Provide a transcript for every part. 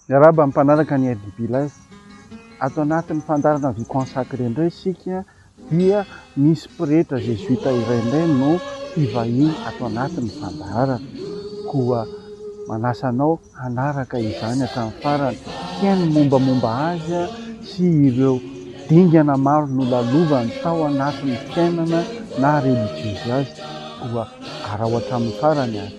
Miarahaba amin'ny mpanaraka ny Aide Bilas. Ato anatin'ny fandaharana Vie Consacrée indray isika dia misy pretra zezoita iray indray no mpivahiny ato anatin'ny fandaharana. Koa manasa anao hanaraka izany hatramin'ny farany. Hihaino ny mombamomba azy sy ireo dingana maro nolalovany tao anatin'ny fiainana naha relijiozy azy. Koa araho hatramin'ny farany ary.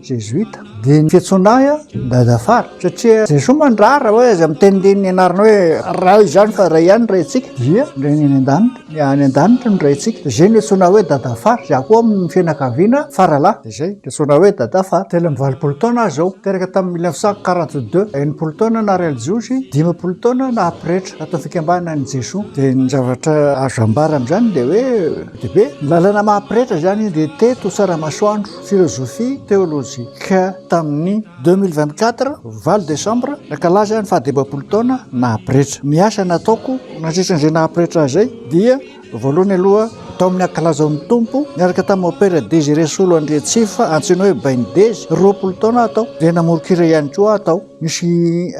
Jesuita, dia ny fiantsoana ahy an, Dadafara, satria Jesoa mandrara hoe aza miteniteny ny anarana hoe Ray izany fa Ray ihany ny Raintsika, dia ny Rainy any an-danitra, ny any an-danitra ny Raintsika, dia izay no iantsoana ahy hoe Dadafara, izaho koa amin'ny fianakaviana Faralahy, dia izay no iantsoana ahy hoe Dadafara, telo amby valopolo taona aho izao, teraka tamin'ny mille neuf cent quarante deux, enimpolo taona naha Ray Jiosy, dimampolo taona naha Pretra ato amin'ny Fikambanana an'i Jesoa, dia ny zavatra azo ambara amin'izany dia hoe be dia be, ny lalana maha Pretra izany dia teto Tsaramasoandro. philosophie théologique tamin'ny deux mille vingt quatre valo desambra nankalaza ny fahadimampolo taona naha pretra. Ny asa nataoko nandritran'izay naha pretra ahy izay dia voalohany aloha tao amin'ny ankalaza ny tompo niaraka tamin'ny opera Désiré Solo Andriatsifa antsoina hoe Bainy Dezy roapolo taona aho tao dia namoron-kira ihany koa aho tao misy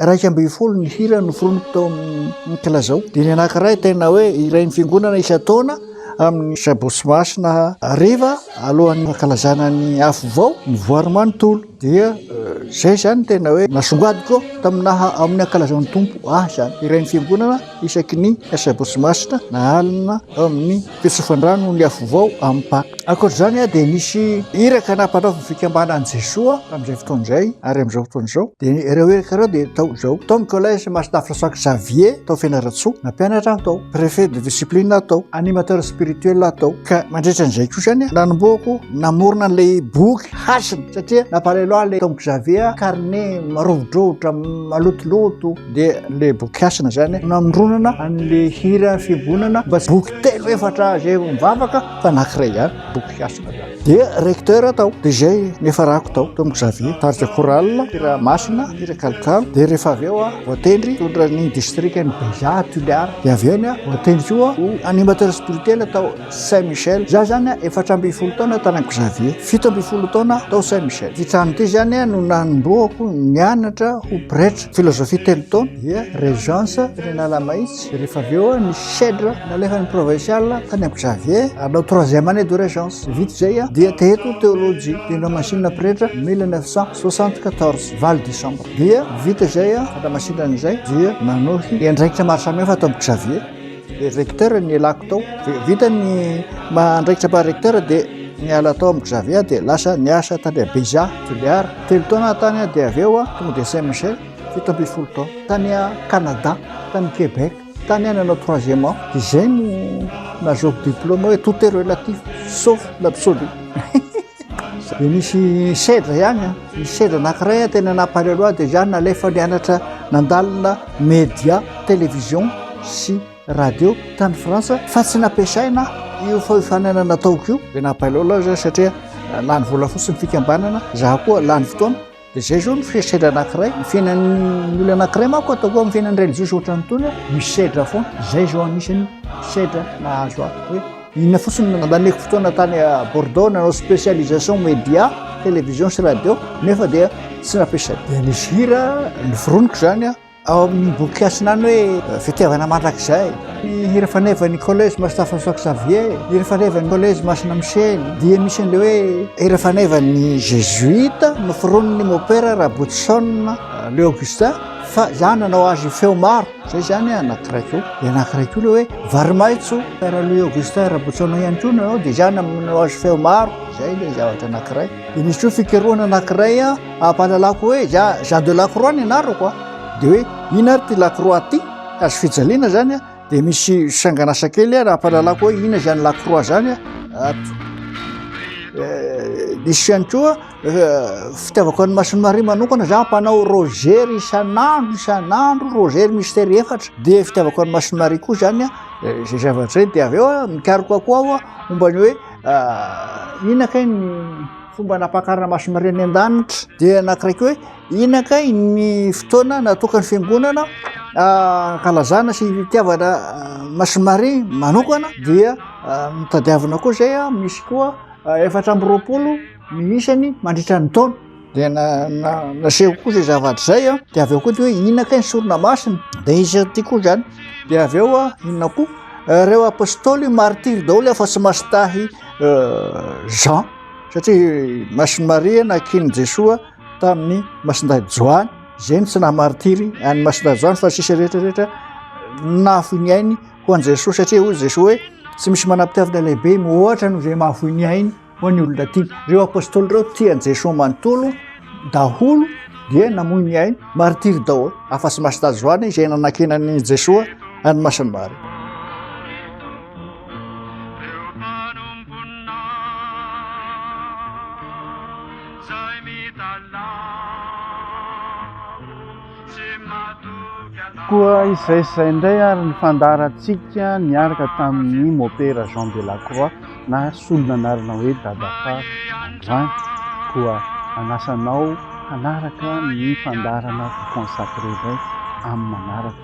iraika ambin'ny folo ny hira noforoniko tao amin'ny kalazao dia ny anankiray tena hoe hirain'ny fiangonana isan-taona amin'ny Sabosy Masina hariva alohan'ny fankalazana ny Afo Vao ny voary manontolo dia izay izany tena hoe nasongadiko tamin'ny naha amin'ny ankalazan'ny Tompo ahy izany iren'ny fiangonana isaky ny Sabosy Masina na alina amin'ny fitsofandrano ny Afo Vao amin'ny Paka akoatr'izany aho dia nisy iraka nampanaovin'ny fikambanan'i Jesoa tamin'izay fotoana izay ary amin'izao fotoana izao dia ireo iraka ireo dia tao izao tao ny collège Masina François Xavier atao fianarantsoa na mpianatra atao préfet de discipline atao animateur spirituel atao ka mandritra an'izay koa zany nanomboako namorona an'ilay boky hasina satria nampalelo ahy le tom xavier carnet marovodrovotra malotoloto dia le boky hasina zany namoronana an'le hira fiangonana mba boky telo efatra zay mivavaka fa nakiray ihany boky hasina dia recteur tao dia izay nefa rako tao tao Xavier tarika chorale hira masina hira kalokalo dia rehefa avy eo voatendry tondra ny district ny Beja Tuliara dia avy eo ny voatendry koa ho animateur spirituel tao Saint Michel za zany efatra ambin'ny folo taona tany Xavier fito ambin'ny folo taona tao Saint Michel ity trano ity zany no nanombohako nianatra ho pretra philosophie telo taona dia régence Renala Mahitsy Dia rehefa avy eo ny Shedra nalefan'ny provincial tany amin'i Xavier hanao troisième année de régence. Vita izay dia teto théologie teny Ramasinina pretra 1974 valo décembre. Dia vita izay Ramasinina izay dia nanohy ny andraikitra maro samihafa ato amin'i Xavier. Dia recteur ny elako tao. Vita ny andraikitra mba recteur dia niala tao amin'i Xavier dia lasa niasa tany Beja Juliard. Telo taona tany dia avy eo tonga dia Saint Michel. fito ambin'ny folo taona tany Canada tany Québec tany any anao troisième an de zay no nazaoko diplôme hoe tout est relatif sauf l'absolu de misy sedra ihany an misy sedra anakiray an tena nampalelo ahy de zany nalefa nianatra nandalina média télévision sy radio tany France fa tsy nampiasaina io fahofanana nataoko io de nampalelo ahy zany satria lany vola fotsiny fikambanana za koa lany fotoana Izay izao no fesedra anankiray, ny fiainan'ny olona anankiray manko ataoko amin'ny fiainan'ny religiosy ohatran'ny tony aho, misedra foana. Izay izao anisan'ny sedra nahazo ahy hoe inona fotsiny no nandaneko fotoana tany Bordeaux nanao spécialisation média, télévision sy radio, nefa dia tsy nampiasa-dia nisy hira noforoniko izany aho. Ao amin'ny boky Hasinany hoe Fitiavana mandrakizay, ny hira fanevan'ny Collège Master François Xavier, hira fanevan'ny Collège Masina Michel, dia misy an'ilay hoe hira fanevan'ny Jésuite noforonin'ny Mopera Rabotoson Leo Augustin fa izany nanao azy feo maro, izay izany anankiray koa. Dia anankiray koa ilay hoe Varimaitso, Père Louis Augustin Rabotoson ihany koa nanao, dia izany nanao azy feo maro, izay ilay zavatra anankiray. Dia misy koa fikarohana anankiray Ampahalalako hoe ja Jean de Lacroix ny anarako a, dia hoe ina ary ity Lacroix ity? Hazo fijaliana izany a, dia misy sanganasa kely a, raha ampahalalako hoe ina izany Lacroix izany a, nisy ihany koa fitiavako an'i Masin'i Maria manokana za mpanao rozery isan'andro isan'andro rozery mistery efatra dia fitiavako an'i Masin'i Maria koa zany a zay zavatra zay dia avy eo a mikaroka koa aho a momba ny hoe ina kay ny Fomba nampakarana masin'Maria any an-danitra dia anankiray koa hoe inona kay ny fotoana natokan'ny fiangonana ankalazana sy hitiavana masin'Maria manokana dia mitadiavina koa izay a misy koa efatra amby roapolo ny isany mandritra ny taona dia naseho koa izay zavatra izay a dia avy eo koa de hoe inona kay ny sorona masina dia izy ty koa izany dia avy eo a inona koa reo apôstôly martiry daholo afa-tsy masintahy Jean satria masin'ny Maria nakian'i Jesoa tamin'ny masindahy Joany izay ny tsy nahamaritiry an'ny masindahy Joany fa sisa rehetra rehetra nafoy ny ainy ho an'i Jesoa satria hoy Jesoa hoe tsy misy manam-pitiavana lehibe mihoatra noho izay mahafoy ny ainy ho an'ny olona tiany ireo apôstôly ireo tian'i Jesoa manontolo daholo dia namoy ny ainy maritiry daholo afa-tsy masindahy Joany izay nanakiana an'i Jesoa an'ny masin'ny Maria Reo mpanomponao zay mitalaho sy matoky anao. Koa izay izay indray ary ny fandaharantsika niaraka tamin'ny Mopera Jean Delacroix na solona anarana hoe Dadafa androany. Koa anasa anao hanaraka ny fandaharana Vous Consacrer indray amin'ny manaraka.